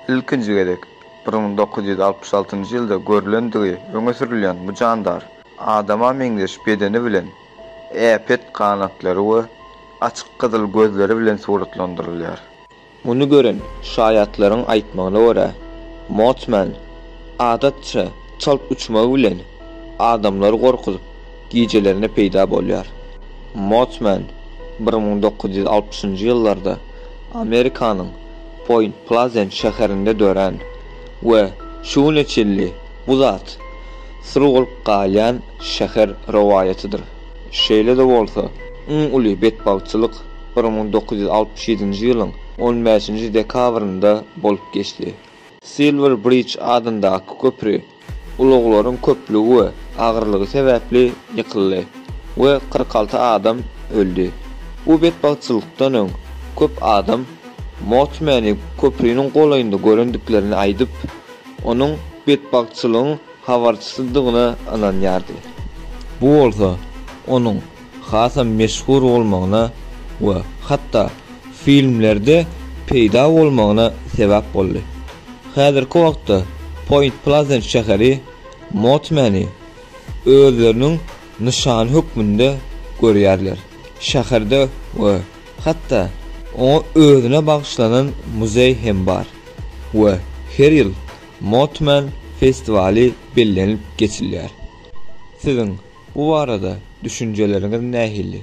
Ilkinji gezek bir müň dokuz ýüz altmyş altynjy ýylda görlendigi öňe sürülýän bu jandar adama meňzeş bedeni bilen, äpet ganatlary we açyk gyzyl gözleri bilen suratlandyrylýar. Muny gören şaýatlaryň aýtmagyna görä, Mothman adatça çalt uçmagy bilen adamlary gorkuzyp, gijelerine peýda bolýar. Mothman bir müň dokuz ýüz altmyşynjy ýyllarda Amerikanyň Poýnt Plazent şäherinde dörän we şu güne çenli bu zat syr bolup galýan şäher rowaýatydyr. Şeýle-de bolsa, iň uly betbagtçylyk bir müň dokuz ýüz altmyş ýedinji ýylyň on bäşinji dekabrynda bolup geçdi. Silwer Bridge adyndaky köpri ulaglaryň köplügi we agyrlygy sebäpli ýykyldy we kyrk alty adam öldi. Bu betbagtçylykdan öň köp adam Mothmany köpriniň golaýynda görendiklerini aýdyp, onuň betbagtçylygyň habarçysydygyna ynanýardy. Bu bolsa onuň hasam meşhur bolmagyna we hatda filmlerde peýda bolmagyna sebäp boldy. Häzirki wagtda Poýnt Plazent şäheri Motmeni özleriniň nyşany hökmünde görýärler. Şäherde we hatda oňa özüne bagyşlanan muzeý hem bar we her ýyl Motman festiwaly bellenilip geçilýär. Siziň bu barada düşünjeleriňiz nähili?